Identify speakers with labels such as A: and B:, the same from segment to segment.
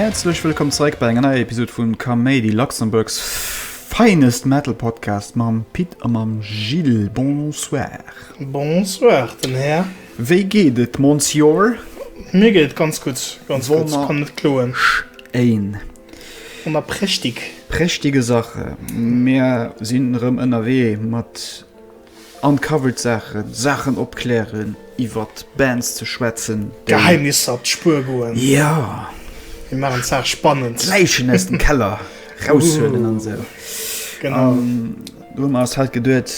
A: Häerzlech wëllkomm zeréck bei enger neier Episod vun Kaméidi, Luxembourg's finest metal podcast mam Pit a mam Gilles. Bonsoir. Bonsoir,
B: den Här. Wéi geet et,
A: Monsieur? Mir geet et
B: ganz gutt, ganz gutt. Kann net kloen. Schéin.
A: Hun mer
B: prächtig prächtige Sache,
A: mer sin rem ënnerwee mat uncovered Sachen, Sachen opklären, iwwert Bands ze schwätzen, déi Geheimnisser op
B: d'Spur goen, jo
A: mir machen
B: d'Saach spannend, d'Läichen aus dem Keller
A: raushuelen an esou, genau an
B: do hun
A: mer eis halt geduet,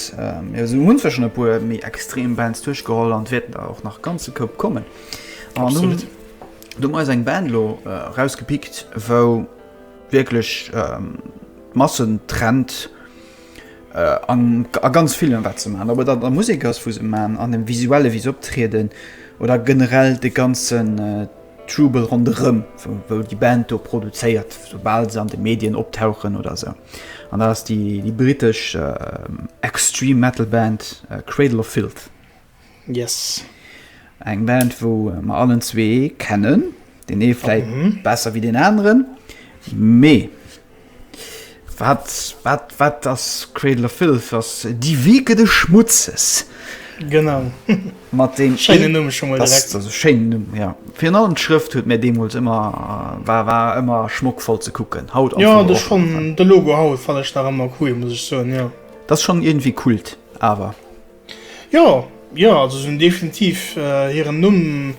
A: mir hun zwar schon e puer méi extrem Bands duerchgeholl an et wäerten der och nach ganze Koup kommen, an hun.
B: Do hun mer eis
A: eng Band elo rausgepickt wou wierklech d'Massen trennt a ganz villem wat se man, ob et an der Musek ass wou se man, an dem visuellen wéi se optrieden oder generell de ganzen Trubel ronderëm wou déi Band do produzéiert soubal se an de Medien optauchen oder sou. An dat ass déi britesch Extreme Metal Band Cradle of Filth. Yes.
B: Eng
A: Band wou mer allen zwee kennen, den ee vläit mhm. besser wie den anderen. Mee wat wat wat ass Cradle of Filth ass déi Weke de Schmutzes. Genau
B: mat den
A: Scheine Numm schon mal
B: Schein Numm ja.
A: Fi allen Schrëft huet mir deemols ëmmer äh, war war ëmmer schmock voll ze kucken. Haut Ja de schon de
B: Logo haut fallch da ëmmer cool muss ich so ja. Dat schon irgendwie
A: kult awer. Jo,
B: jo, also si hunn definitiv hiren Numm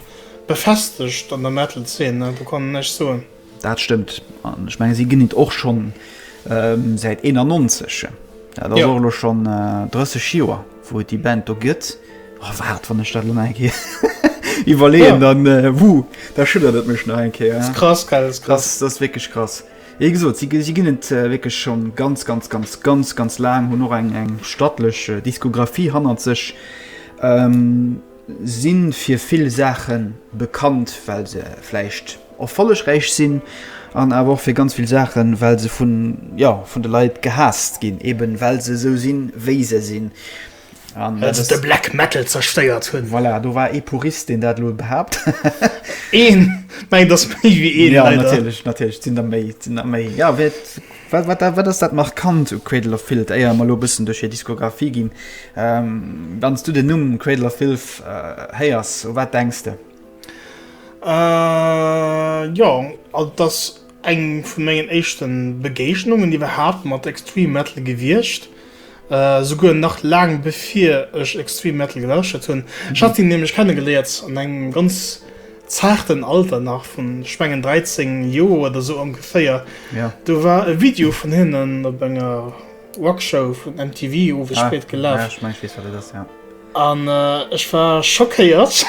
B: befestegt an der Metal-Zeen, do kann een näischt soen. Dat stëmmt,
A: an ech menge si ginn et och schonn säit 91, dat ass och elo schonn 30 Joer, wou et déi Band do gëtt. O waart, wann ech dat elo nach eng Kéier iwwerleeën, da schüttert et mech nach eng Kéier. Dat ass krass, gell, dat ass
B: krass. Dat ass wierklech krass.
A: Wéi gesot, si ginn et wierklech scho ganz, ganz, ganz, ganz, ganz laang, hunn och eng, eng stattlech Diskografie hannert sech, si fir vill Saache bekannt, well se vläicht erfollegräich sinn, an awer och fir ganz vill Saachen, well se vun, jo, vun de Leit gehaasst ginn, eben well se esou sinn, wéi se sinn. Well
B: se de Black Metal zerstéiert hunn. Voilà, do war ee Purist,
A: deen dat elo behaapt. Een!
B: Mä et ass méi wéi een, leider. Jo, natierlech, natierlech,
A: et sinn der méi, et sinn der méi. Jo, wéi et, wat, wat, wat ass dat Markant u Cradle of Filth, éier mer elo e bëssen duerch hir Diskografie ginn? Wann s du den Numm Cradle of Filth héiers, u wat denks de?
B: Jo, also et ass eng vun mengen éischte Begéignungen iwwerhaapt mat Extreme Metal gewiescht. Souguer nach laang bevir ech Extreme Metal gelauschtert hunn. Ech hat hien nämlech kennegeléiert an engem ganz zaarten Alter nach vun, ech mengen, 13 Joer oder sou ongeféier. Do war
A: e Video
B: vun hinnen op enger Rockshow vun MTV owes spéit gelaf.
A: An
B: ech war schockéiert,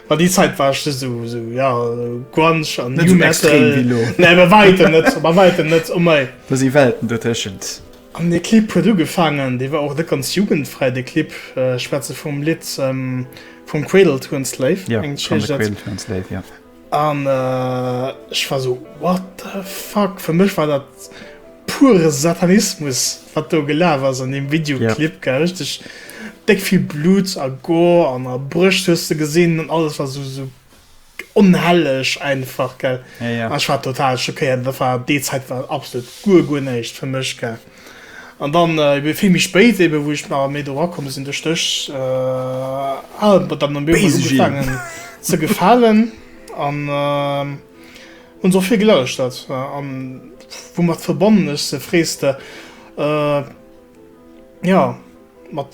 B: well déi Zäit war ech just esou, jo, Grunge an New Metal. Nee, bei wäitem net, bei wäitem net, oh mei. Do si Welten
A: dotëschent. An dee Clip
B: huet ugefaangen, dee war och net ganz jugendfräi, dee Clip, ech schwätze vum Lidd From Cradle to Enslave, Jo, From the Cradle
A: to Enslave, jo. An
B: ech war esou, What the fuck? Fir mech war dat pure Satanismus, wat do gelaf ass an deem Videoclip, gell, richteg déck vill Blut a Gore an a Brëscht hues de gesinn an alles war esou, esou onhelleg einfach gell ja, ja. Ech war total
A: schockéiert,
B: dat war déi Zäit war absolut guer guer näischt fir mech gell. An dann äh, vill méi spéit eben, wou ech mar méi do rakomme sinn duerch dech äh, ah, dann am Biergefangen ze gefalen an äh, hun so vill gelauscht dat äh, an wou mat verbonnen ech se freeste äh, ja mat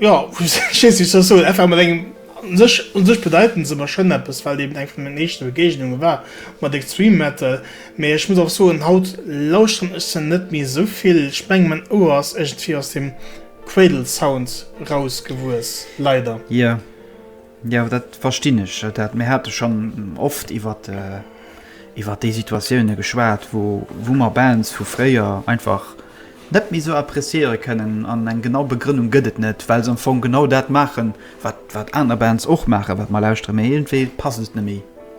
B: Jo, ech weess net, wéi ech soll soen, einfach mat engem, un sech, un sech bedeiten se mer schonn eppes, well et eben eng vun den éischte Begeegnunge war mat Extreme Metal. Mee ech muss och soen, haut lauschteren ech se net méi esou vill. Ech mengen, mäin Ouer ass iergendwéi aus dem Cradle Sound rausgewuess, leider. Jo.
A: Jo, dat verstinn ech. Dat mir hate schonn oft iwwert iwwert déi Situatioune geschwat, wou wou mer Bands vu fréier einfach net méi esou appreciéiere kënnen. An eng genau Begrënnung gëtt et net, well se am Fong genau dat maachen, wat wat aner Bands och maachen, wat mer lauschtere, mä iergendwéi passt et net méi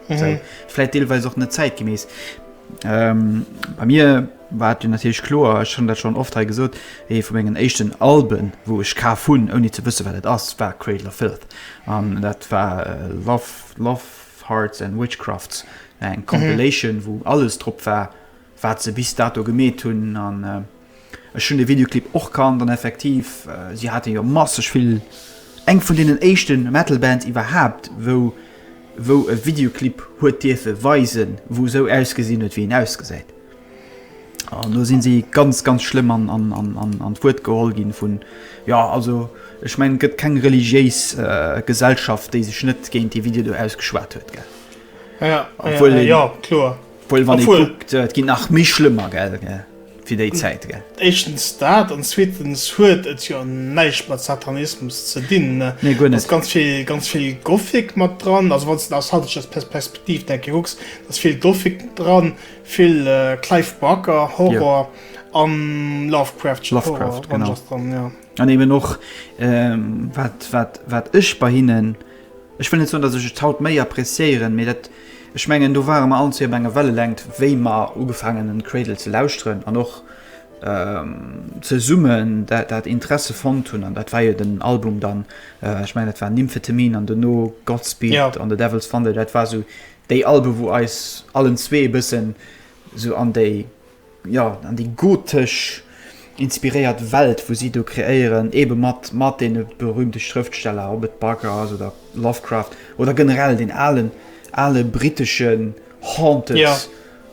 A: esou. Vläicht deelweis och net zäitgemäss. Ähm, bei mir war et jo natierlech kloer, ech hunn dat schonn oft hei gesot, ee vu mengen éischten Alben, wou ech kaf hunn, ouni ze wësse wat et ass, war Cradle of Filth. An dat war Love, Love, Hearts and Witchcrafts, eng Compilation, wou alles drop war, wat se bis dato gemeet hunn. An, Ech hun de Videoclip och kannt an effektiv si haaten jo masseg vill, eng vun deenen éischten Metal Bands iwwerhaapt wou wou e Videoclip huet dierfen weisen wou sou ausgesinn huet wéi een ausgesäit an do sinn si ganz ganz schlëmm an an an an d'Wuert geholl ginn vun jo also ech mengen et gëtt keng religiéis Gesellschaft déi sech net géint dee Video do ausgeschwat huet gell? Obwuel
B: een. Obwuel wann ee kuckt,
A: et ginn nach méi schlëmmer, gell, fir déi Zäit, gell. Éischtens dat an
B: zweetens huet et jo näischt mat Satanismus ze dinn. Nee, guer net. Ass
A: ganz
B: vill Gothic mat dran, also wann s de aus haiteger Perspektiv denke kucks, da ass vill Gothic dran, vill Clive Barker Horror a Lovecraftschen Horror dran,
A: jo.
B: An eben och
A: wat ech bei hinnen. Ech wëll net soen, datt ech et haut méi appreciéieren, mee dat, ech mengen, do ware mer allen zwee op enger Wellelängt, wéi mer ugefaangen hunn Cradle ze lauschteren an och zesummen dat Interesse fonnt hunn. An dat war jo den Album dann, ech mengen, dat war Nymphetamine an dono Godspeed an The Devil's Thunder. Dat war esou déi Alben, wou eis allen zwee e bëssen esou an déi. jo, an déi gotesch inspiréiert Welt, wou si do kreéieren, ebe mat mat deene berühmte Schrëftsteller, ob et Barker ass oder Lovecraft oder generell deen alen ale briteschen haunted, ja.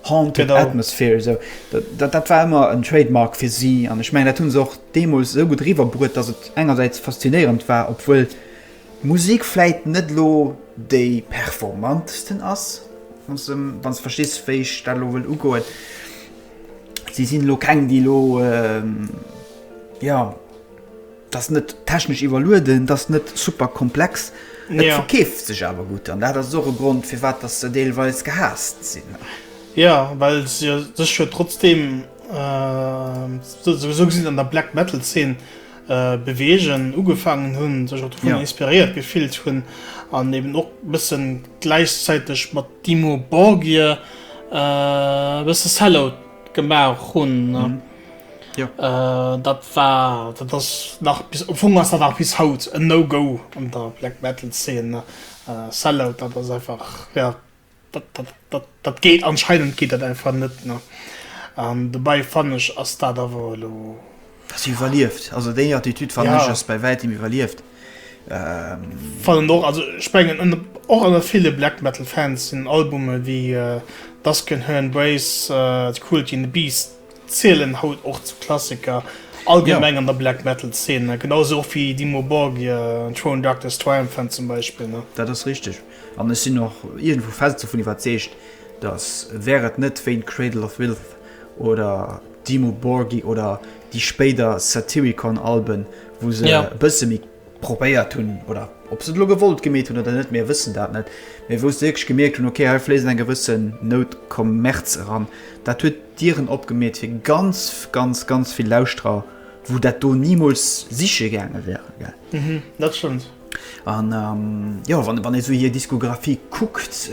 A: haunted Atmosphere. So. Dat, dat war ëmmer en Trademark fir si an ech mengen, dat hunn se och deemools esou gutt riwwerbruet, datt et engersäits faszinéierend war, obwuel Musik vläit net elo déi performantesten ass, wann s wann s verstees, wéi ech dat elo wëll ugoen. Si sinn elo keng, déi elo, jo, dat ass net technesch iwwerlueden, dat ass net super komplex. Et verkeeft sech awer gutt. An dat ass och e Grond, firwat dass se deelweis gehaasst sinn. Jo,
B: well se sech jo trotzdeem souwisou gesinn an der Black-Metal-Zeen Beweegen ugefaangen hunn, sech och dovun inspiréiert gefillt hunn an eben och e bëssen gläichzäiteg mat Dimmu Borgir e bësse Sellout gemaach hunn. Dat war, dat ass nach bis, am Fong ass dat nach bis haut en No-Go an der Black Metal Zeen. Sellout, dat ass einfach, jo. Dat geet anscheinend geet dat einfach net ne an dobei fannen ech ass dat awer elo. Ass iwwerlieft
A: also déi Attitüd fannen ech ass bei wäitem iwwerlieft.
B: Fannen och also ech mengen en och ënner ville Black Metal Fans sinn Albume wéi Dusk and Her Embrace, The Cruelty and the Beast zielen haut och zu Klassiker allgemeng an der Black Metal Szene genau esou och wéi Dimmu Borgir, Throne Darkness Triumphant zum Beispill ne. Dat ass richteg.
A: An ech sinn och iergendwou fest dovun iwwerzeegt, datt wär et net wéint Cradle of Filth oder Dimmu Borgir oder déi spéider Satyricon Alben, wou se e bësse méi probéiert hunn, oder ob se et elo gewollt gemeet hunn oder net, mir wëssen dat net, mä wou se wierklech gemierkt hunn, ok hei fléisst eng gewësse Nout Kommerz eran, dat huet Dieren opgemeet fir ganz, ganz, ganz vill Lauschterer, wou dat do nimools siche gaange wären. Dat stëmmt.
B: An
A: jo wann wann ee sou hir Diskografie kuckt,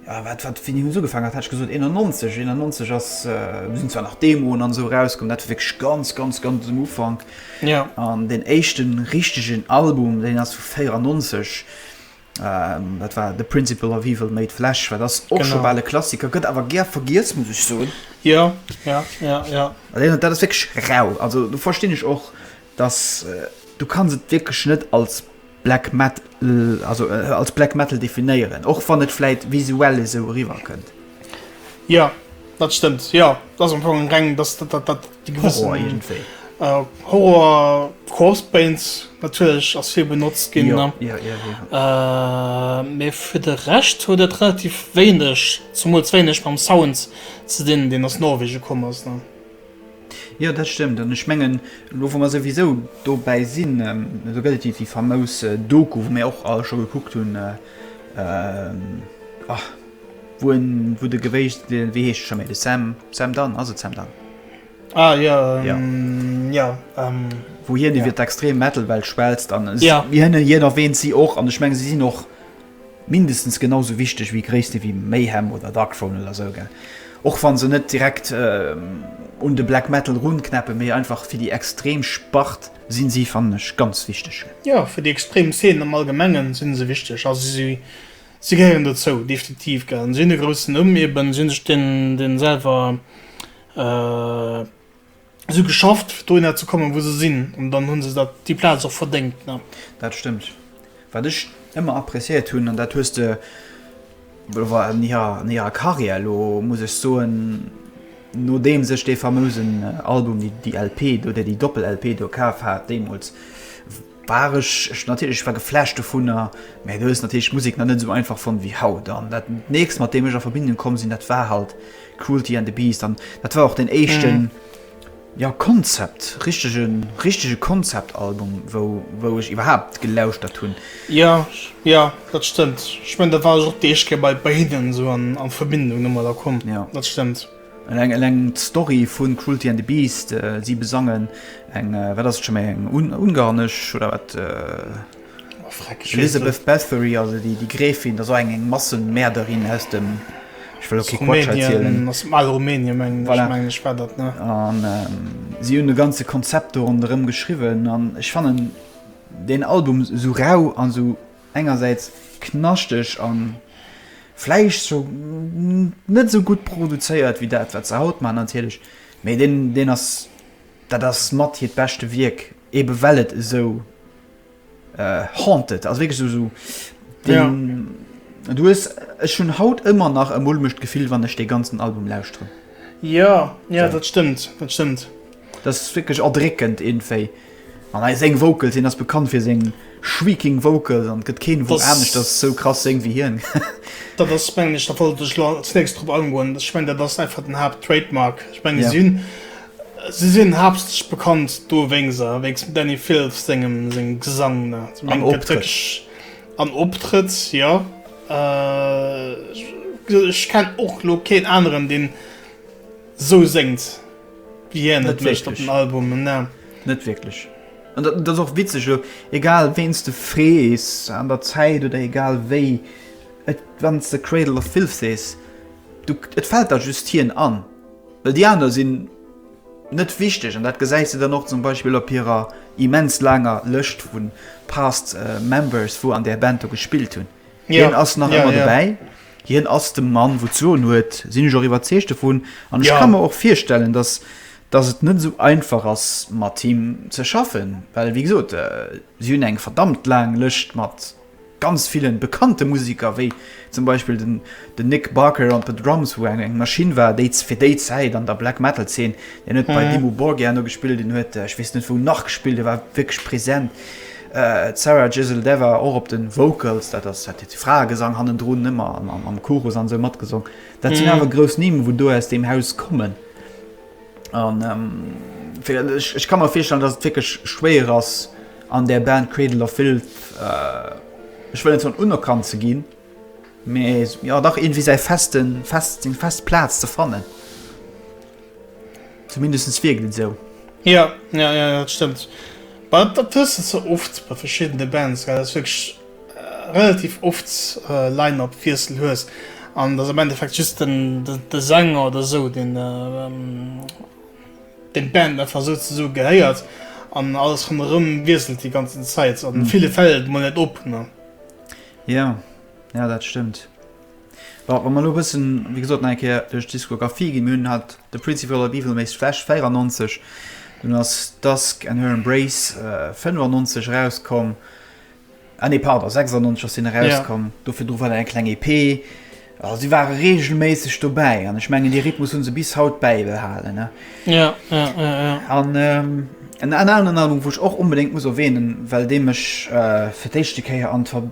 A: wat wat wéini hunn se ugefang hat hat ech gesot 91, 91 ass sinn zwar nach Demoen an esou erauskomm, dat war wierklech ganz ganz ganz um Ufank. Jo. An deen éischten richtegen Album, deen ass vu 94, dat war The Principle of Evil Made Flesh, wat ass och scho bal e Klassiker, gëtt awer gär vergiess, muss ech soen. Jo, jo, jo, jo. An dat ass wierklech rau, also do verstinn ech och dass du kanns et wierklech net als Black Met, also als Black Metal definéieren, och wann et vläit visuell esou eriwwer kënnt. Jo,
B: dat stëmmt, jo. Dat ass am Fong eng reng, dass dat, dat, dat déi gewëssen. Horror iergendwéi. Horror, Corpse Paint natierlech ass vill benotzt ginn. Jo, jo, jo, jo. Mee fir de Rescht huet et relativ wéineg, zemools wéineg mam Sound ze dinn, deen aus Norwegen komm ass.
A: Jo, dat stëmmt. An ech mengen, elo wa mer souwisou dobäi sinn, do gëtt et déi déi famous Doku, wou mir och all scho gekuckt hunn, ah, wou en, wou de gewéisch, wéi heescht e scho méi, de Sam, Sam Dunn, ass et Sam Dunn? Ah jo, jo, jo. Wou hien iwwert d'extrem Metal-Welt schwätzt an hien erwäänt si och. An ech mengen, si sinn och. Mindestens genau sou wichteg wéi Gréisste wéi Mayhem oder Darkthrone oder sou, gell? Och wann se net direkt un de Black Metal run knäppen, mee einfach fir déi extrem Spart sinn si fannen ech ganz wichteg,
B: gell?
A: Jo,
B: fir déi extrem Szene
A: am
B: Allgemengen sinn
A: se
B: wichteg, also si gehéieren dozou, definitiv, gell? Si hunn e groussen Numm eben, si hunn sech den selwer. si geschafft fir dohinner ze kommen wou se sinn an dann hu se dat déi Plaz och verdéngt ne. Dat stëmmt.
A: Wat ech ëmmer appréciéiert hunn an dat hues de war an hirer an hirer Karriär elo muss ech soen nodeems ech dee famousen Album déi LP do déi Doppel-LP do kaf hat deemools War ech ech natierlech, ech war geflasht dovunner, mä du hues natierlech d'Musek nach net esou einfach fonnt wéi haut. An dat nächst mat deem ech a Verbindung komm sinn, dat war halt Cruelty and the Beast an dat war och den éischten, jo Konzept, richtege, richtege Konzeptalbum wou, wou ech iwwerhaapt gelauschtert hunn. Jo,
B: jo, dat stëmmt. Ech mengen da war ech och d'Éischt Kéier bei, bei hinnen esou an, a Verbindung domadder komm. Jo. Dat stëmmt. Eleng
A: d'Story vun Cruelty and the Beast, si besangen eng, wat ass et scho méi, eng ungarnesch, oder wat? Oh freck, ech weess et net. Elizabeth Bathory, also déi Gräfin, ass och eng Massenmäerderin aus dem, ech wëll och kee Quatsch
B: erzielen. Aus dem ale Rumänien, mengen ech. Voilà. Mengen ech war dat,
A: ne? An si hunn e ganze Konzept do ronderëm geschriwwen. An ech fannen deen Album esou rau an esou engersäits knaschteg a vläicht sou net sou gutt produzéiert wéi dat wat se haut maachen natierlech, mee deen deen ass dat ass mat hiert beschte Wierk, ebe well et esou haunted ass, wierklech sou sou deen du hues, ech hunn haut ëmmer nach e mulmegt Gefill wann ech dee ganzen Album lauschteren. Jo,
B: jo dat stëmmt, dat stëmmt. Dat ass
A: wierklech erdréckend iergendwéi. An hei seng Vocals, hien ass bekannt fir seng shrieking Vocals an et gëtt keen Won aneschters sou krass séngt wéi hien. Dat ass mengen
B: ech, da wollt ech elo als nächst drop angoen, ech mengen dat ass einfach den Haapt Trademark. Ech menge si hunn, si sinn haaptsächlech bekannt do wéinst se, wéinst dem Dani Filth sengem sengem Gesang ne. Ech menge gëtt wierklech an Optrëtt, jo. Ech kenn och elo keen aneren deen sou séngt. Yeah, net wéicht op den Album, ne. Net wierklech.
A: An dat, dat ass och witzeg elo, egal ween s de frees an der Zäit oder egal wéi, et, wann s de Cradle of Filth sees, du, et fält der just hien an, well déi aner sinn net wichteg. An dat gesäis de dann och zum Beispill op hirer immens laanger Lëscht vu past members, wou an där Band do gespillt hunn. Hien ass nach ëmmer dobäi. Hien ass de Mann, wou d'Soen huet, sinn ech och iwwerzeegt dovun. An ech ka mer och virstellen, datt et net esou einfach ass, mat him ze schaffen. Well, wéi gesot, si hunn eng verdammt laang Lëscht mat ganz ville bekannte Museker, wéi zum Beispill den Nick Barker on the Drums, wou eng Maschinn war, déi fir déi Zäit an der Black-Metal-Zeen, hien huet bei Dimmu Borgir no gespillt, hien huet, ech weess net wou nach gespillt, e war wierklech present. D'Sarah Jezeldewa och op de Vocals, dat ass dat hiert Fraegesang hannendrun, ëmmer am Chorus an esou matgesong. Dat sinn awer grouss Nimm, wou do aus deem Haus kommen. An ech ka mer virstellen, datt et wierklech schwéier ass an där Band Cradle of Filth, ech wëll net soen unerkannt ze ginn, mee jo dach iergendwéi säi festen, fest, seng fest Plaz ze fannen. Zumindestens wierkt et esou. Jo, jo,
B: jo, dat stëmmt. Bah, dat hues de ze oft bei verschiddene Bands, gell, dass du wierklech relativ oft Line-Up-Wiessel hues an et ass am Endeffekt just den, de Sänger oder esou, deen deen d'Band einfach souzesoe gehéiert an alles ronderëm wiesselt déi ganzen Zäit. An ville Fäll mol net op, ne? Jo,
A: jo, dat stëmmt. Bon, wa mer elo e bëssen, wéi gesot, nach eng Kéier duerch d'Diskographie ginn, Mir hunn hat The Principle of Evil Makes Flesh, 94, dunn ass Dusk and Her Embrace, 95, erauskomm, ah nee, pardon, 96 ass deen erauskomm, do virdru war dat eng kleng EP. Also si ware reegelméisseg dobäi an ech mengen, dee Rhythmus hu se bis haut bäibehalen. An en aneren Album, wou ech och onbedéngt muss erwänen, well dee mech fir d'éischte Kéier an d'Ver.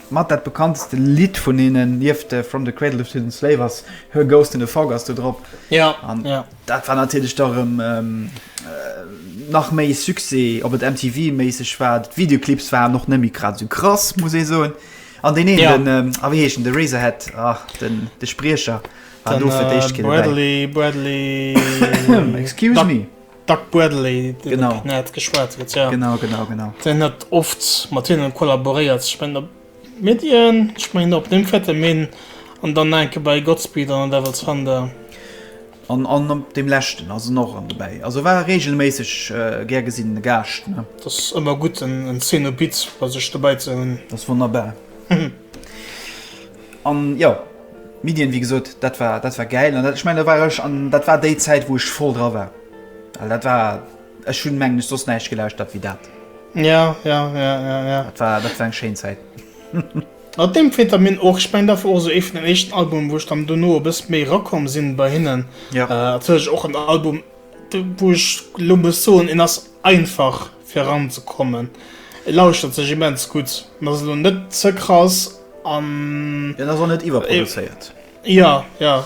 A: Mat dat bekannteste Lidd vun hinnen, nieft From the Cradle to the Slave, ass Her Ghost in the Fog ass do drop. Ja, an ja.
B: dat war
A: natierlech
B: da
A: rëm ähm, äh, nach méi Succès, ob et MTV-méisseg war. D'Videoclips waren och net méi grad esou krass, muss ee soen. An deen een, ja. den, ähm, ah, wéi heescht den,
B: de Razorhead,
A: ach, den, de Spriecher, war do fir d'éischt keen
B: Bradley,
A: Bradley. Excuse me. Doug Bradley,
B: deen de Pnet geschwat
A: huet, jo.
B: Genau, genau, genau. Deen
A: huet
B: oft mat hinnen kollaboréiert, ech mengen op Midian, ech mengen op Nymphetamine an dann nach enke bei Godspeed an The Devil's Thunder. An, an
A: op deem leschten ass en och ëmmer dobäi. Also e war reegelméisseg gär gesinnene Gaascht, ne. Et ass ëmmer gutt,
B: en Cenobite bei sech dobäi ze hunn. Dat ass wonnerbar.
A: An jo, Middien, wéi gesot, dat war, dat war gäil. An dat, ech mengen, do war ech, an dat war déi Zäit, wou ech voll dra war. Well dat war, ech hunn, mengen ech, soss näischt gelauschtert wéi dat. Jo, jo, jo,
B: jo, jo. Dat
A: war, dat war eng schéin Zäit. Mat
B: deem Phetamine och. Ech mengen, dat war och esou ee vun den éischten Albumen, wou ech dann dono e bësse méi erakomm sinn bei hinnen. Jo. Natierlech och
A: en Album,
B: wou ech elo muss soen, en ass. Einfach fir eran ze kommen. Et lauschtert sech immens gutt, an ass elo net ze krass an. Jo, an ass och net
A: iwwerproduzéiert. Jo, jo,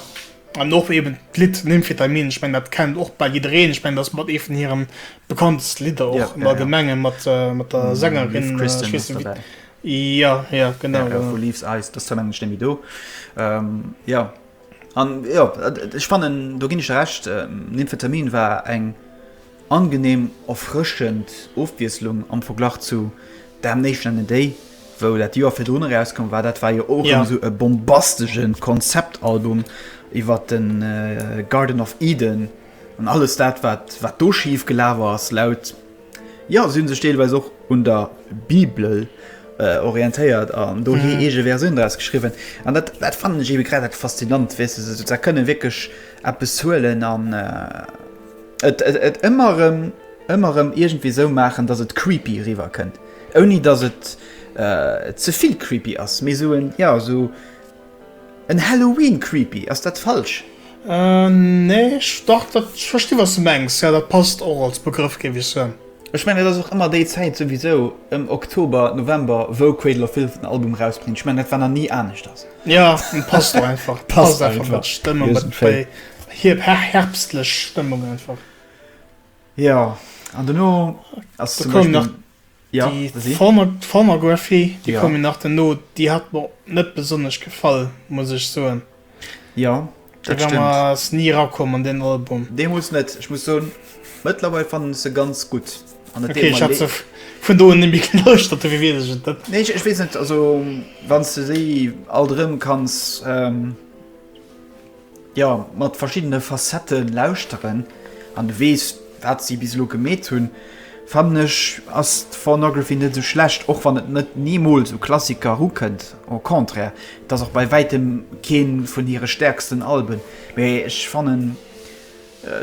B: an och eben d'Lidd Nymphetamin, ech mengen dat kennt och bal jiddereen. Ech mengen dat ass mat ee vun hire bekannteste Lidder och am allgemenge mat der Sängerin Kristen Wiig. Kristen
A: Wiig,
B: jo,
A: jo,
B: genau. Jo, vu Leaves Eyes, dës
A: zwou mengen ech nemme do. Jo, an jo, ech fannen do ginn ech der Recht, Nymphetamin war eng. Angenehm erfrëschend Ofwiesslung am Verglach zu Damnation and a Day, wou dat d'Joer virdrun erauskomm war. Dat war jo och rëm esou e bombastesche Konzeptalbum iwwer de Garden of Eden an alles dat, wat wat do schif gelaf ass. Laut, jo, si hu sech deelweis och un der Bibel orientéiert an do hir eege Versioun draus geschriwwen. An dat dat fannen ech ebe grad dat Faszinant, weess de, se kënne wierklech eppes huelen an, Et, et, et ëmmer erëm, ëmmer erëm iergendwéi esou maachen, datt et creepy eriwwer kënnt, ouni datt et äh, ze vill creepy ass, mee esou en, ja, esou en Halloween-creepy. Ass dat falsch?
B: Nee, ech, dach, dat, ech versti wat s de mengs, jo, dat passt och als Begrëff, géif ech soen. Ech mengen, et ass och
A: ëmmer déi Zäit souwisou, ëm Oktober, November, wou Cradle of Filth den Album erausbréngt. Ech mengen, dat war nach ni aneschters. Jo, passt
B: och einfach, passt einfach mat der
A: Stëmmung, mat wéi Hir
B: herbstlech Stëmmung einfach. Jo,
A: an dono ass zum
B: Beispill.
A: Da koum nach
B: déi Former,
A: Formergraphy,
B: déi koum jo nach dono.
A: Déi
B: hat mer net besonnesch gefall, muss ech soen. Jo,
A: dat stëmmt. D'Gamma ass ni erakomm
B: an deen Album. Deemools net. Ech muss
A: soen, mëttlerweil fannen ech se ganz gutt an et deet mer leed. Okay, ech hat se vun
B: do un ni méi gelauschtert, dofir weess ech et net. Nee, ech weess net. Also,
A: wann s de déi alt erëm kanns. jo mat verschiddene Facettë lauschteren an du weess wat si bis elo gemeet hunn, fannen ech ass d'Phornography net esou schlecht, och wann et net nimools u Klassiker eru kënnt, au contraire, et ass och bei wäitem kee vun hire stäerksten Alben, mee ech fannen.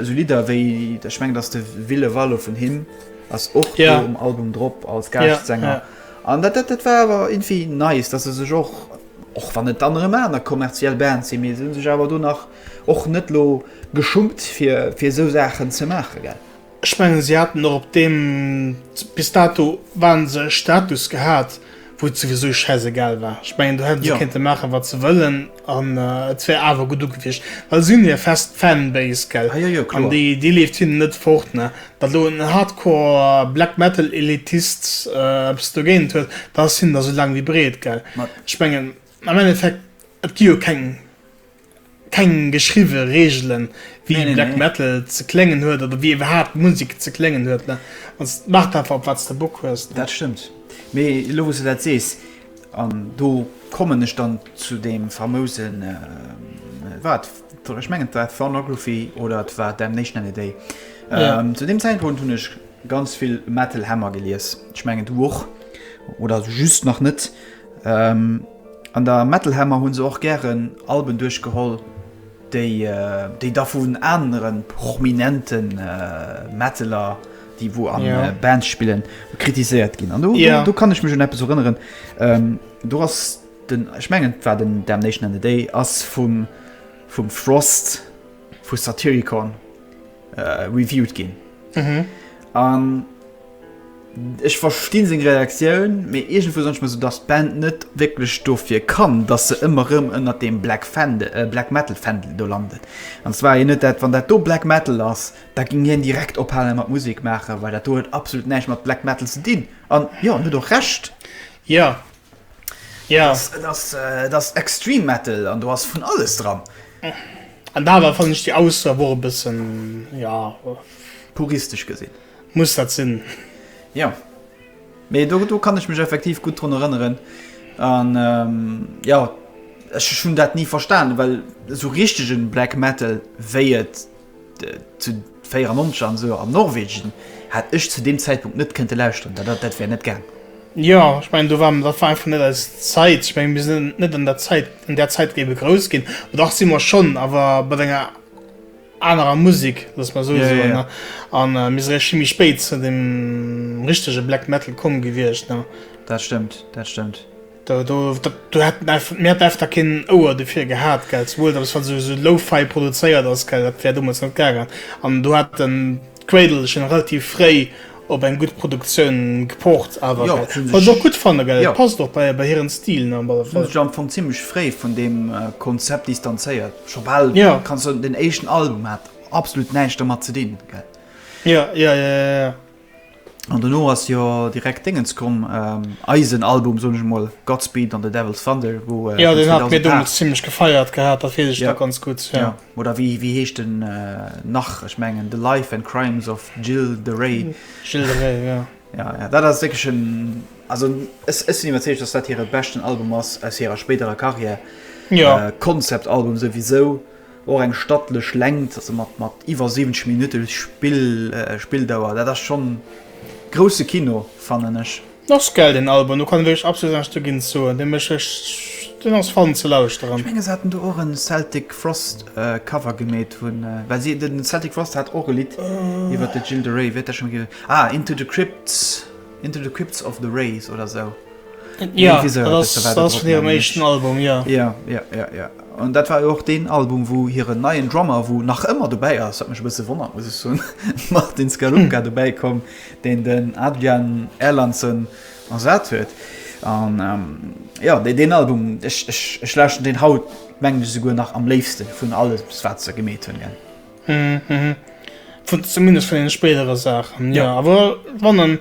A: Esou Lidder wéi, ech mengen dass de Ville Valo vun him ass och do um Album drop
B: als
A: Gaaschtsänger an dat dat war awer irgendwie nice, dass e sech och, och wann et dann erëm aner kommerziell Bands sinn, mee se hu sech awer do nach och net elo geschummt fir fir esou Saachen ze maachen, gell. Ech mengen si haten
B: och op deem bis dato waren se e Status gehat wou et souwisou schäiss egal war, ech mengen do hätte se kéinte maache wat se wëllen. An et wär awer gudd ugewiescht, well se hun hir fest Fanbase, gell? Ah, jo, jo, kloer. An déi
A: leeft hinnen
B: net fort, ne? Datt elo en Hardcore Black Metal Elitist eppes dogéint huet, datt ass hinnen da sou lang wéi breet, gell? Ech mengen, am Endeffekt, et gi jo keng, keng geschriwwe Reegelen, wéi Nee, nee, Black nee. Metal ze kléngen huet, oder wéi iwwerhaapt Musek ze kléngen huet, ne? An s maacht einfach, op wat s de Bock hues, ne? Dat stëmmt.
A: Mee elo wou s de dat sees, An do kommen ech dann zu deem famousen, war et, ech mengen et war Thornography oder et war Damnation and a Day. Ja. Ähm, zu
B: deem Zäitpunkt hunn
A: ech ganz vill Metal Hammer gelies. Ech mengen du och oder just nach net. Ähm, an der Metal Hammer hunn se och gären Alben duerchgeholl, déi, déi da vun anere prominenten Metaler, déi wou an ja. Äh, Band spillen kritiséiert ginn an du, ja. du, du kann ich mech hun App
B: erinnern
A: ähm, du hast den ich mengen war den der nation an the day ass vum vum Frost vu Satyricon äh, reviewt ginn
B: mhm.
A: an Ech verstinn seg Reaktioun, méi egent vu sonch so dats Band net wécklech dofir kann, dat se ëmmer rëm ënner dem Black Fende, äh, Black Metal Fdel do landet. An zwar je net dat wann dat do Black Metal ass, Da ging hien direkt ophalen mat Musek maachen, well dat do huet absolut näischt mat Black Metal ze dinn. An jo, en huet och Recht. Jo,
B: jo. Et ass, et
A: ass Extreme Metal an do ass vun alles dran. An da
B: awer fannen ech déi Ausso awer och e bëssen, jo. Puristesch
A: gesinn. Muss dat sinn?
B: Jo.
A: Mee do, do kann ech mech effektiv gutt drun erënneren. An jo, ech hunn dat ni verstanen, well esou richtegen Black Metal, wéi et Zu 94 an esou an Norwegen hätt ech zu deem Zäitpunkt net kënnte lauschteren, dat dat wär net gaang. Jo, ech mengen
B: do waren, dat war einfach net eis Zäit. Ech mengen mir sinn net an der Zäit, an där Zäit géiwe grouss ginn, oder dach si mer schonn, awer mat enger anerer Musek, loosse mer esou soen ne.
A: An
B: mir si réischt vill méi spéit zu deem richtege Black Metal komm gewiescht ne. Dat stëmmt, dat
A: stëmmt. Do do
B: dat do hat en eif mir hat eif da keen Ouer dofir gehat, gell, souwuel dat ass wann se esou Lo-Fi produzéiert ass, gell, dat wär domat net gaangen an do hat den d'Cradle schon relativ fréi op eng gutt Produktioun gepocht awer, Jo, gell, si hunn wat ech och sech, gutt fannen,
A: gell,
B: jo. et passt och bei bei hiren Stil ne am alle Si hunn Fall. sech am Fong zimmlech
A: fréi vun deem Konzept distanzéiert, scho bal Jo. kann sou den éischten Album hat absolut näischt dermat ze dinn, gell. Jo, jo, jo, jo,
B: jo.
A: An dono ass jo direkt Déngens komm, eisen Album soen ech mol, Godspeed an The Devil's Thunder, wou vun
B: 2008, jo, oder wéi heescht
A: en nach, ech mengen The Life and Crimes of Gilles de Rais, Gilles de Rais, jo,
B: jo, jo, dat ass wierklech
A: en, also ech sinn iwwerzeegt, datt dat hire beschten Album ass aus hirer spéiderer Karriär,
B: Concept Album
A: souwisou. Och eng stattlech Längt, also mat mat iwwer 70 Minutte Spill Spilldauer, dat ass schonn grousse Kino fannen ech. Ass gell den Album,
B: do kann ee wierklech absolut näischt dogéint soen, dee mécht echt, deen ass fun ze lauschteren. Ech mengen se haten do och en
A: Celtic Frost Cover gemeet vun, well si den Celtic Frost hat och e Lidd iwwert de Gilles de Rais, wéi huet dat schonn geheescht, ah Into the Crypts. Into the Crypts of the Rays oder sou. Ja, dat
B: ass vun hirem éischten Album, jo. Jo, jo, jo,
A: jo. An dat war jo och deen Album, wou hiren neien Drummer, wou nach ëmmer dobäi ass, wat mech e bësse wonnert, muss ech soen, Martin Skalunga dobäi koum, deen den Adrian Erlandson ersat huet. An jo, deen Album, ech, ech, ech lauschten deen haut, mengen ech, esouguer nach am léifste vun alles, wat se gemeet hunn, gell.
B: zumindest vun den spéidere Saachen jo awer wann en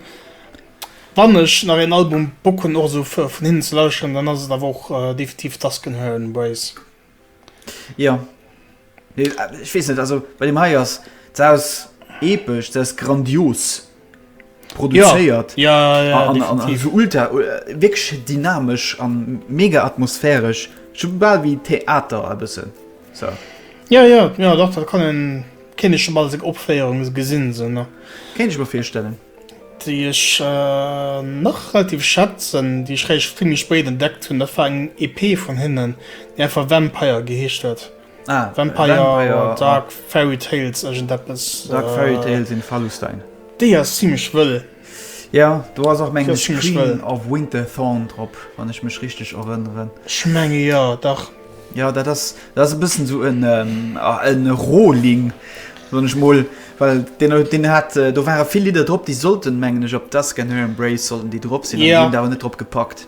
B: wann ech nach een Album Bock hunn och esou fir vun hinnen ze lauschteren dann ass et awer och definitiv Dusk and Heron Ways.
A: Jo ech weess net also bei deem hei ass se ass epesch se ass grandios. produzéiert ja, ja, an,
B: an, an so ultra
A: äh, wirklich dynamesch an mega atmosphärisch schon bal wie Theater e bëssen so. Ja ja
B: ja doch dat kann en kenne schon bal seg Opféierung gesinn se ne kenne ech mer virstellen
A: déi ech
B: äh, nach relativ schätzen déi ech réischt vill méi spéit entdeckt hunn dat war eng EP vun hinnen déi einfach Vampire geheescht huet. Vampire, Dark Fairy Tales, iergend eppes. Dark
A: Fairy Tales in Fallustein. Déi ass zimmlech
B: wëll. Jo, do
A: ass och mengen ech Queen of Winterthorn drop, wann ech mech richteg erënneren. Ech menge jo,
B: dach. Jo, dat
A: ass e bëssen esou en Rohling, soen ech mol, well deen hat, do ware vill Lidder drop, déi sollten, mengen ech, op d'Dusk and Her Embrace sollten déi drop sinn, an déi hunn et awer net drop gepackt.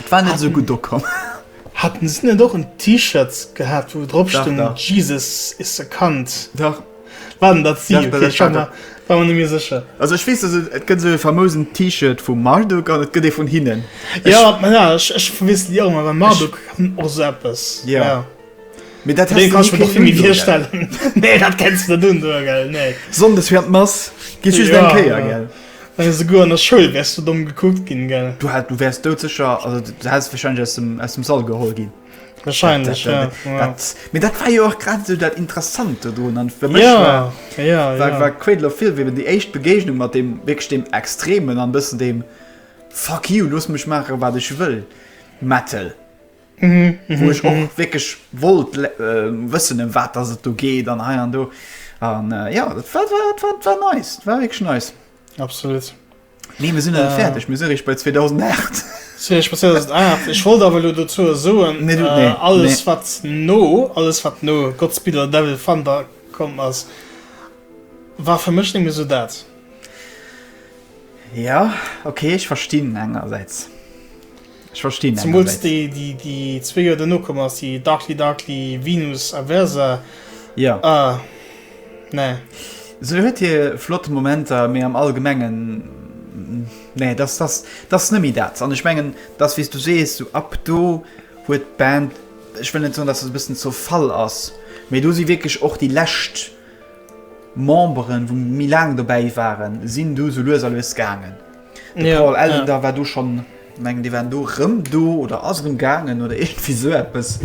A: Et war net esou gutt ukomm. Haten se
B: net och en T-Shirt gehat wou drop stung Jesus is a cunt? Dach.
A: War den dat si?
B: Okay ech war mer war mer net méi sécher. Also ech weess dass et
A: gëtt esou e famousen T-Shirt vum Marduk an et gëtt ee vun hinnen. Jo ma ja ech
B: ech verwiessel déi och ëmmer well Marduk kann och esou eppes jo.
A: Mee dat häss
B: de ni kënnen un do gell? Nee
A: dat
B: kenns
A: de net
B: un do
A: gell nee.
B: Sonndes
A: fir an
B: d'Mass geet
A: just
B: eng Kéier
A: gell? Well
B: esouguer an der Schoul wärs du domm gekuckt ginn, gell? Du hat, du wärs doudsécher,
A: also du häss wahrscheinlech aus dem, aus dem Sall geholl ginn. Wahrscheinlech, ja.
B: Dat,
A: mee dat war jo och grad esou dat Interessant do drun. An fir mech war,
B: war, war
A: Cradle of Filth eben déi éischt Begegnung mat deem, wierklech deem Extremen an bëssen deem Fuck you, looss mech maache wat ech wëll Metal. mhm, mhm, wo ech och mhm. wirklich wollt äh, wëssen em wat dass et do geet an hei an do an äh, ja dat war, war, war, war nice war wirklich nice absolut
B: nee mir sinn
A: äh, fertig mir sinn ich bei 2008 so, ich, 2008.
B: ich wollte aber dazu so nee, du, nee, äh, alles nee. wat no alles wat no Gottspieler devil fand da kommt as war für mich mir so dat ja
A: okay ich verstehen engerseits Ech verstinn engersäits. Zemools déi, déi
B: zwee Joer dono komm ass, déi Darkly Darkly, Venus a Versa. Jo. Ah,
A: nee.
B: Se huet
A: hir flott Momenter, mee am Allgemengen, nee, dat ass, dat ass net méi dat. An ech mengen, dat ass, wéi s du sees, sou ab do huet d'Band, ech wëll net soen, dass et e bëssen zerfall ass, mee do si wierklech och déi lescht Memberen, wou méi laang dobäi waren, sinn du sou lues a lues gaangen. De Paul Ellender war do schonn, mengen déi waren do erëm do oder ass erëm gaangen oder iergendwéi sou eppes.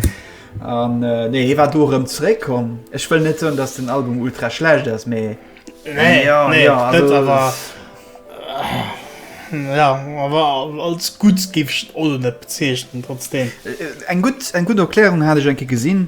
A: An nee hie war do erëm zeréck komm. Ech wëll net soen, datt den Album ultra schlecht ass, mee dat awer
B: jo awer als gutt géif ech et och elo net bezeechnen. Trotzdeem eng gutt, eng
A: gutt Erklärung hat ech eng Kéier gesinn.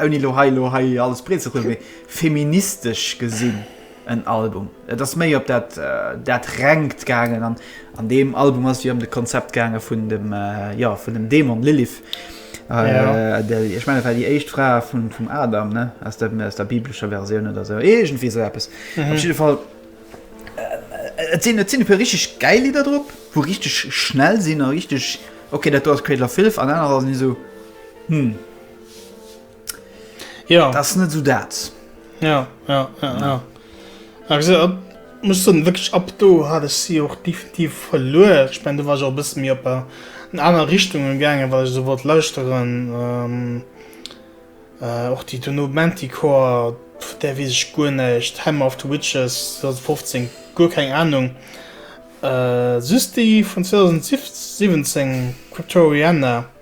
A: ouni elo hei elo hei alles breet ze rullen, feministesch gesinn en Album. Et ass méi op dat dat Rengt gaangen an an deem Album ass ëm de Konzept gaange vun dem jo vun dem Dämon Lilith. Ja. Déi ech menge war déi éischt Fra vum vum Adam ne aus der aus der biblescher Versioun oder esou iergendwéi esou eppes. Op jidde Fall et sinn et sinn e puer richteg gäil Lidder drop, wou richteg schnell sinn a richteg, okay dat do ass Cradle of Filth an anerer sinn esou,
B: Hm. Ja. Dat ass net esou dat.
A: Ja,
B: ja, ja, ja. ja. Also, ab, muss so wirklich ab do hat ich sie auch definitiv verloren ich mein, du war auch bis mir op äh, in aner Richtung gegangen weil ich so wollt lauschteren ähm, äh, auch die Donomantikor der wie ich gu nicht Hammer of the Witches 2015 gu kein Ahnung äh, süß die von 2017 Cryptoriana die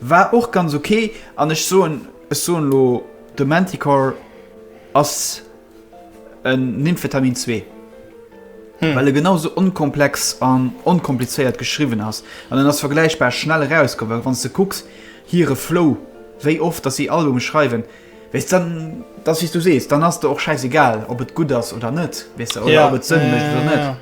A: War och ganz ok an ech soen, ech soen lo de Manticore ass en Nymphetamin zwee, well e genau sou onkomplex an onkomplizéiert geschriwwen ass an en ass vergläichbar schnell erauskomm, well wann s de kucks hire Flow, wéi oft datt si Albume schreiwen, weess dann, et ass wéi s du sees, dann ass der och schäiss egal ob et gutt ass oder net, weess de, oder ob et Sënn mécht oder net.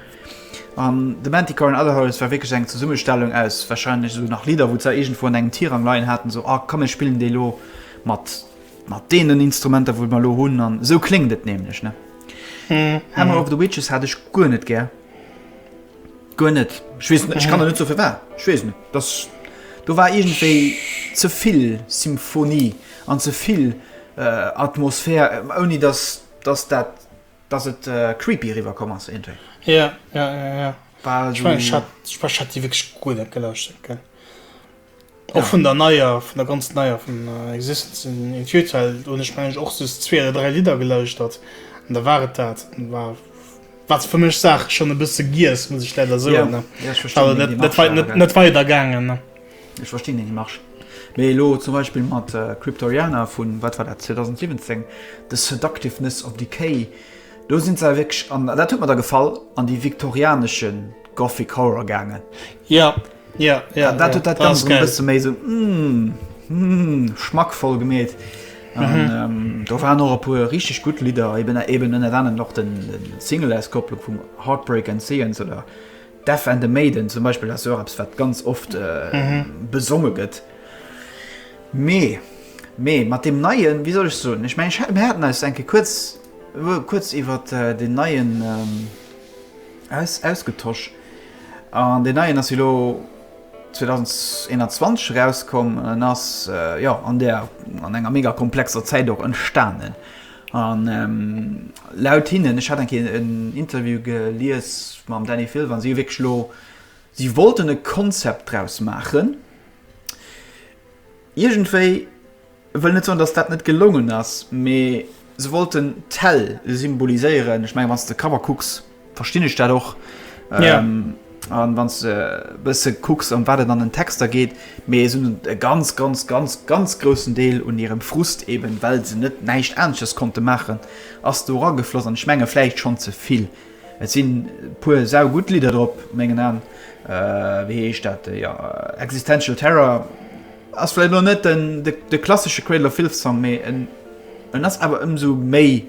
A: An The Manticore an Other Horrors war wierklech eng Zesummestellung aus wahrscheinlech esou nach Lidder, wou se iergendwou an engem Tirang leien haten, esou, ah komm mir spillen déi elo mat mat deenen Instrumenter, wou mer elo hunn, an esou kléngt et nämlech, ne? Hammer of the Witches hat ech guer net gär. Guer net. Ech weess net, ech kann der net sou firwat. Ech weess net. Dass do war iergendwéi ze vill Symphonie an ze vill Atmosphär, ouni dass dass dat dass et creepy eriwwer komm ass iergendwéi. Ja,
B: ja, ja, ja. War
A: ech meng, ech hat, ech
B: hat déi wierklech guer net gelauschtert, gell. Och ja. vun der neier, vun der ganz neier, vun uh, Existence in, in Futile, hunn ech meng och sos zwee oder dräi Lieder gelauschtert. An da war et dat. War wat fir mech Saach schon e bësse giess, muss ich leider so ja, ja, net, net weider gaangen. Ech
A: verstinn den Démarche. Mee elo zum Beispill mat Cryptoriana vu, wat war dat, 2017, The Seductiveness of Decay, do sinn se awer wierklech, an dat huet mer da gefall, an déi viktorianesche Gothic Horror gaangen. Jo, jo, jo. An dat huet dat Ganzt erëm e bësse méi esou, hum, schmackvoll gemeet. An do waren och e puer richteg gutt Lidder, eben ënnert anerem och de Single-Auskopplung vum Heartbreak and Seance oder Deaf and the Maiden zum Beispill ass jo och eppes, wat ganz oft besonge gëtt. Mee, mee mat deem neien, wéi soll ech soen, ech mengen, mir haten eis eng Kéier kuerz, kuerz iwwer deen neien aus, ausgetosch. An deen neien ass jo elo 2021 erauskomm an ass, jo, an där, an enger mega komplexer Zäit och entstanen. A laut hinnen, ech hat eng Kéier en Interview gelies mam Dany Filvan, si hu wierklech elo, si wollten e Concept draus maachen. Iergendwéi, ech wëll net soen, datt dat net gelongen ass, mee se wollten d'Häll symboliséieren. Ech mengen, wann s de Cover kucks, Verstinn ech dat och. Yeah. Ähm, an wann ze äh, bësse kucks an wat et an den Texter geet, mé es un e ganz ganz ganz ganz grossen Deel un hirem Frust eben, well se net näischt Anesches konnte maachen, ass do ragefloss an ech menge vläicht schonn ze vill. Et sinn puer sau gutt Lidder drop mengen an äh, wéi heescht dat äh, ja, Existential Terror ass vläit lo net den de, de klassesche Cradle of Filth Song, méi en ass awer ëmsou méi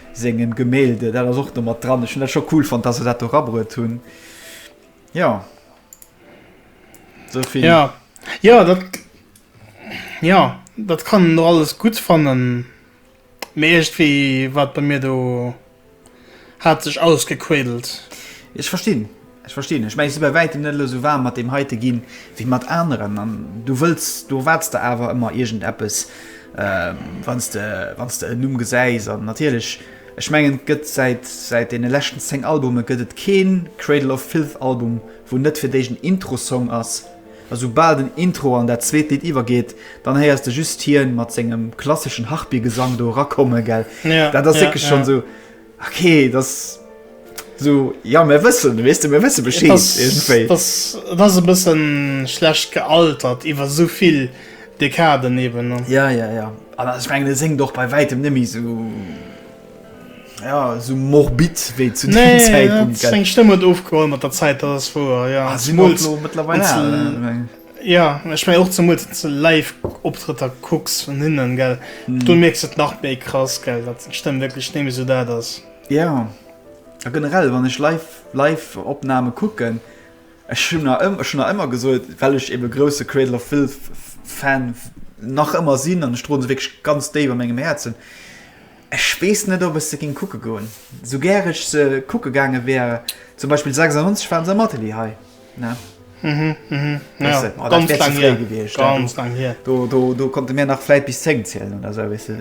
A: Sengem Gemälde. Dat ass och do mat dran. Ech hunn dat scho cool fonnt, dass se dat do rabruet hunn. Jo. Sou vill. Ja. Jo, dat. Jo, dat kann een och alles gutt fannen. Mee iergendwéi war et bei mir do. Hat sech ausgequédelt. Ech verstinn. Ech verstinn dech, mä ech si bei wäitem net elo esou waarm mat deem heite gi wéi mat aneren. An du wëlls, du erwaarts der awer ëmmer iergend eppes, wann s de, wann s de en Numm gesäis. An natierlech, ech mengen, et gëtt säit, säit deene leschten 10 Albume gëtt et kee Cradle of Filth Album, wou net fir d'éischt en Intro-Song ass. A soubal den Intro an dat zweet Lidd iwwergeet, dann héiers de just hien mat sengem klasseschen Harpygesang do erakomme, gell? Dat ass wierklech schonn esou. Ok, das so ja mir wëssen wees du mir wësse beschéi das
B: e bëssen schlecht gealtert iwwer sovill Dekaden eben ja ja ja aber
A: ich mein, seng doch bei weitem nimi so ja so morbid wéi zu nee, Zeitpunkt
B: eng Stëmme ofgeholl mat der Zeit das vor ja ah, mittlerweile
A: Jo
B: ech mengen och zemools wanns de live Optrëtter kucks vun hinnen gell do mierks de et nach méi krass gell dat d'Stëmm wierklech némme sou dat ass. Jo
A: a generell wann ech live live Opname kucken ech hunn der ëmmer ech hunn der ëmmer gesot well ech ebe grousse Cradle of Filth Fan nach ëmmer sinn an ech droen se wierklech ganz déif a mengem Häerzen, Ech weess net ob ech se ging kucke goen, sou gär ech se kucke gaange wär, zum Beispill 96 waren se am Atelier hei ne, do konnte mir nach vläit bis 10 zielen oder sou weess de,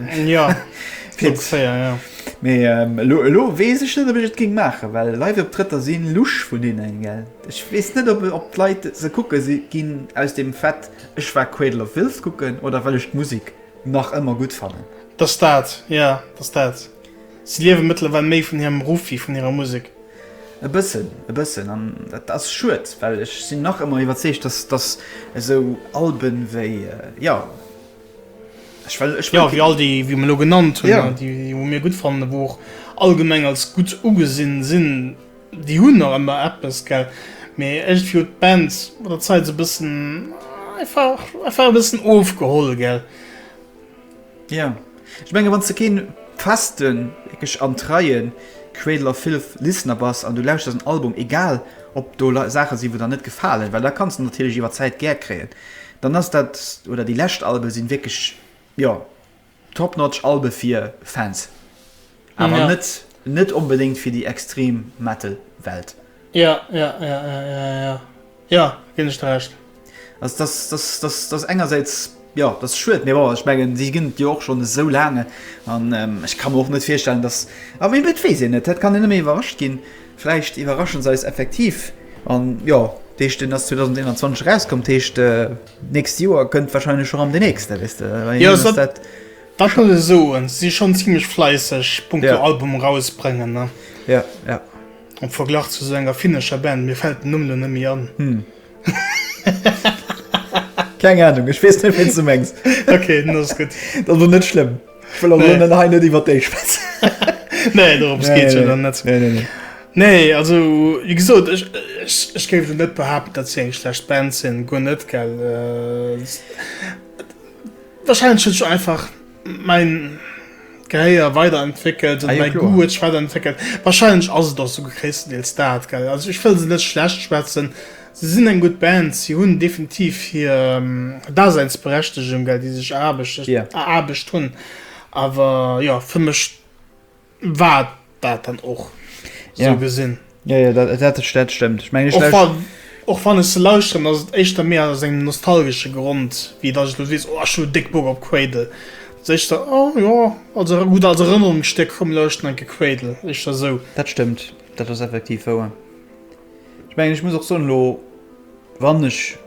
B: mee
A: elo weess ech net ob ech et ging maachen, well Live-Optrëtter si lusch vun hinnen, gell. Ech weess net ob d'Leit se kucke ginn aus dem Fait ech war Cradle of Filth kucken oder well ech d'Musek. Nach ëmmer gutt fannen. Dass dat,
B: jo, dass dat. Si liewe mëttlerweil méi vun hirem Ruff wéi vun hirer Musek. E bëssen,
A: e bëssen. An dat ass schued, well ech sinn nach ëmmer iwwerzeegt, dass, dass esou Alben wéi, jo, ech
B: well, ech well. Jo, wéi all déi, wéi mer elo genannt hunn, déi, wou mir gutt fannen, wou och allgemeng als gutt ugesinn sinn. Déi hunn nach ëmmer eppes, gell, mee iergendwéi huet d'Band mat der Zait sou e bëssen einfach, einfach e bëssen ofgeholl, gell.
A: Jo, ech menge wann s de kee festen, wierklech an treie Cradle of Filth Listener bass an du lauschters en Album, egal ob do Saache sinn, wou der net gefalen, well dat kanns de natierlech iwwer d'Zäit gär kréien, dann ass dat, oder déi lescht Albe sinn wierklech, jo. Top notch Albe fir Fans, awer net net onbedéngt fir déi extrem Metal Welt. Jo jo jo
B: jo jo ginn ech der Recht. Dass
A: dass dass dass engersäits jo dass schued, mee bon ech mengen si ginn et jo och schonn esou laang an ech ka mer och net virstellen dass a mee et weess een net dat kann een nëmme iwwerrascht ginn vläicht iwwerraschen se eis effektiv an jo d'eescht deen ass 2021 erauskomm d'heescht. Nächst Joer kënnt wahrscheinlech schon am de nächste wees de dat
B: muss ech soen si schon ziemlech fleisseg Punkto yeah. Album rausbrengen ne ja yeah, ja yeah.
A: Am
B: Verglach zu so enger finnescher Band, mir fällt den Numm lo nëmme an. Hm. Keng
A: Ahnung, ech weess net, wien s du mengs. Okay, dann ass gutt.
B: Dat ass net schlëmm.
A: Ech wëll also net hei net iwwer déi
B: schwätzen.
A: Nee,
B: dorëms geet et jo dann net. Nee, nee, nee. Nee,
A: also,
B: wéi gesot, ech, ech, ech géif elo net behaapten, datt si eng schlecht Band sinn, guer net, gell. Wahrscheinlech huet sech einfach mäin Gehéier weiderentwéckelt oder mäi Goût huet sech
A: weiderentwéckelt.
B: Wahrscheinlech ass et och esou gréisstendeels dat, gell. Also, ech wëll se net schlecht schwätzen. Se sinn eng gutt Band, si hunn definitiv hir Daseinsberechtegung, well déi sech eraarbecht hunn. Awer jo, fir mech war et dat dann och, esou gesinn.
A: Jo,
B: jo,
A: dat stëmmt. Ech mengen, ech lauschteren. Och wann ech
B: se lauschteren, ass et éischter méi aus engem nostalgesche Grond, wéi datt ech elo sees, oh, ech hunn déck Bock op Cradle. Et ass éischter, oh jo, als gutt als Erënnerungsstéck, komm, lauschteren eng Kéier Cradle. Éischter esou. Dat stëmmt, dat
A: ass effektiv wouer. Ech mengen, ech muss och soen, elo wann ech,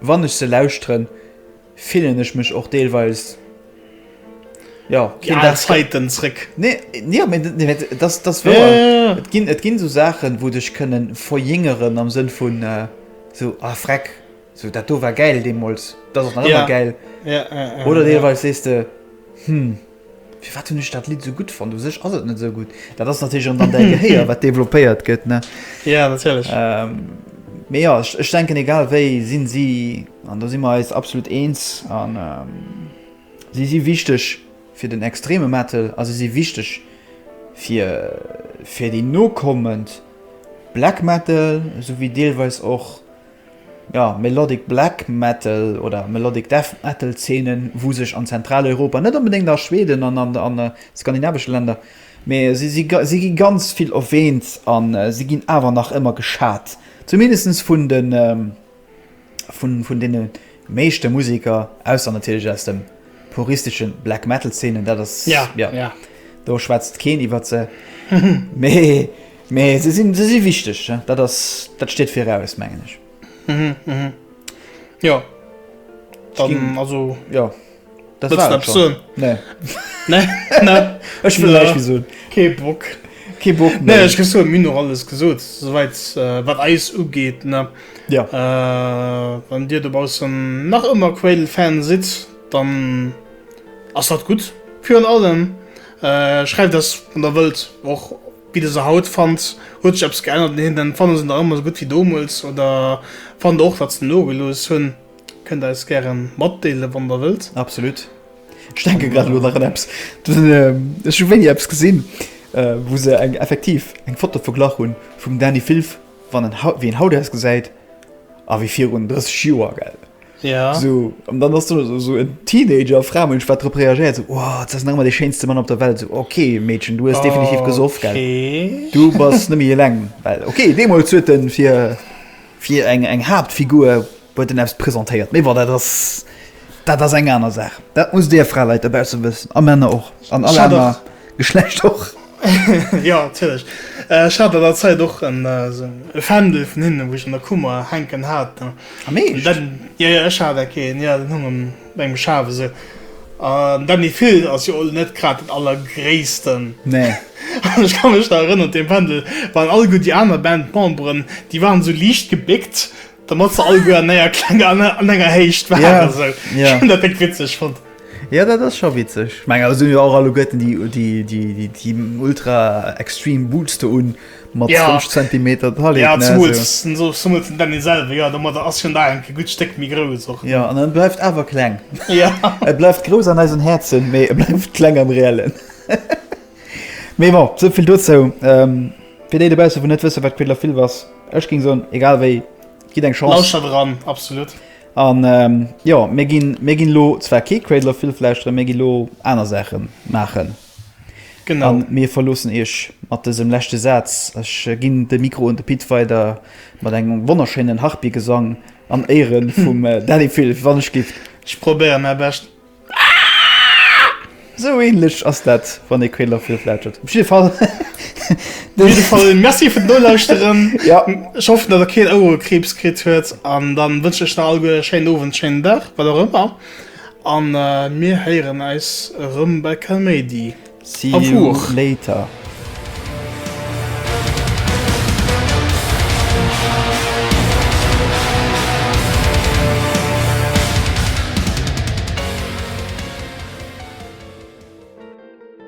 A: wann ech se lauschteren, fillen ech mech och deelweis, jo, keen Dag zréck. Déi al
B: Zäiten zréck. Nee, jo, mee
A: dat ass, dat ass wouer.
B: Et ginn, et ginn esou
A: Saachen, wou dech kënnen verjéngeren am Sënn vun esou, ah freck, esou dat do war gäil deemools, dat ass och nach ëmmer gäil. Oder
B: deelweis sees de,
A: hm. Firwat hunn ech dat Lidd esou gutt fonnt? U sech ass et net esou gutt. Dat ass natierlech an dann däi Gehéier, wat developpéiert gëtt, ne? Jo, natierlech.
B: Mee
A: jo, ech denken, egal wéi, sinn si, an do si mer eis absolut eens, an si si wichteg fir den extreme Metal a si si wichteg fir, fir déi nokommend Black Metal, esou wéi deelweis och, Jo, Melodic Black Metal oder Melodic Death Metal Zeenen, wou sech an Zentraleuropa, net onbedéngt a Schweden an an an de skandinavesche Länner, mee si si si gi ganz vill erwähnt a si ginn awer nach ëmmer geschat, zumindestens vun de vun vun deene. meeschte Museker, ausser natierlech aus dem puristesche Black Metal Zeenen, dat ass ja, ja, ja.
B: do
A: schwätzt keen iwwert se, mee, mee se sinn, se si wichteg, dat ass, dat steet viraus, mengen ech. Mhm, mhm.
B: Jo. Dann, ging, also.
A: Jo. Dat war et schon. Nee. nee. nee.
B: Ech will näischt
A: méi soen. Kee Bock.
B: Kee Bock méi.
A: Nee, ech gi soen, mir hunn och
B: alles gesot, souwäit wat eis ugeet, ne. Ja.
A: Wann dir dobaussen
B: nach ëmmer Quail-Fan sidd, dann ass dat gutt. Virun allem schreift eis, wann der wëllt, och wéi der se haut fannt. Huet sech eppes geännert? Neen, dann fanne se nach ëmmer esou gutt wéi domols oder fannt der och, datt se nogelooss hunn? Kënnt eis gären matdeelen wann der wëllt. Absolut.
A: Ech denken grad elo nach un eppes. Ech hu wéini eppes gesinn wou se eng effektiv eng Foto verglach hunn vum Dani Filf wann en haut wéi en haut ausgesäit a wéi virun 30 Joer gell esou
B: an dann ass
A: do esou en Teenager Framënsch wat drop reagéiert esou wow s ass nach ëmmer dee schéinste Mann op der Welt esou ok Meedchen du hues definitiv gesoff gell du bass
B: net méi
A: eleng well ok deemools huet en fir Fir eng eng Haaptfigur huet en eppes presentéiert, mee bon, dat ass dat ass eng aner Saach. Dat musst Dir Fraleit dobausse wëssen, a Männer och, an all aner Geschlecht och. Jo,
B: natierlech. Ech hat an der Zäit och en esou e Fändel vun hinnen, wou ech an der Kummer hänken hat. Am Eescht? Jo, jo, ech hat dat keen. Jo, deen hung am Mengem Schaf esou. An Dany Phil ass jo elo net grad den allergréissten. Nee.
A: An ech ka mech
B: nach erënneren, dee Pendel war an alleguer déi aner Bandmemberen, déi waren esou liicht gebéckt, dermat se alleguer an enger klenger, an enger Héicht waren. Ja, esou. Ja. Ech hunn dat
A: déck
B: witzeg
A: fonnt.
B: Jo, dat ass scho
A: witzeg. Ech mengen, awer se hunn jo och alleguerten déi, déi, déi, déi, déi ultra extreme Boots do un. Mat 5 Zentimeter
B: Taille, ne?
A: Jo, zumools
B: den, zumools den Dany selwer, jo, domadder ass hien da en gutt Stéck méi grouss och. Jo, an en bleift awer
A: kleng. Jo. E
B: bleift grouss an
A: eisen Häerzen, mee e bleift kleng am Reellen. Mee bon, esou vill dozou. Fir déi dobausse wou net wësse wat Cradle of Filth ass, ech géing soen, egal wéi, gitt eng Chance. Lauschtert eran, absolut.
B: An
A: jo, mir ginn, mir ginn elo zwar kee Cradle of Filth lauschteren, mir gi elo aner Saache maachen. Genau.
B: An mir verloossen
A: Iech mat dësem leschte Saz. Ech ginn de Mikro un de Pit weider mat engem wonnerschéinen Harpygesang an Éiere vum Dany Filf, wann ech giff. Ech probéieren mäi
B: Bescht. Esou
A: ähnlech ass dat, wann ee Quail derfir flaatschert. Op jidde Fall.
B: Op jidde Fall Merci fir d'Nolauschteren. Ja. Ech hoffen,
A: datt Der keen
B: Ouerekriibs kritt huet. An da wënschen ech der alleguer e schéinen Owend, schéinen Dag, wat och ëmmer. A mir héieren eis erëm bei Calmady. See you later.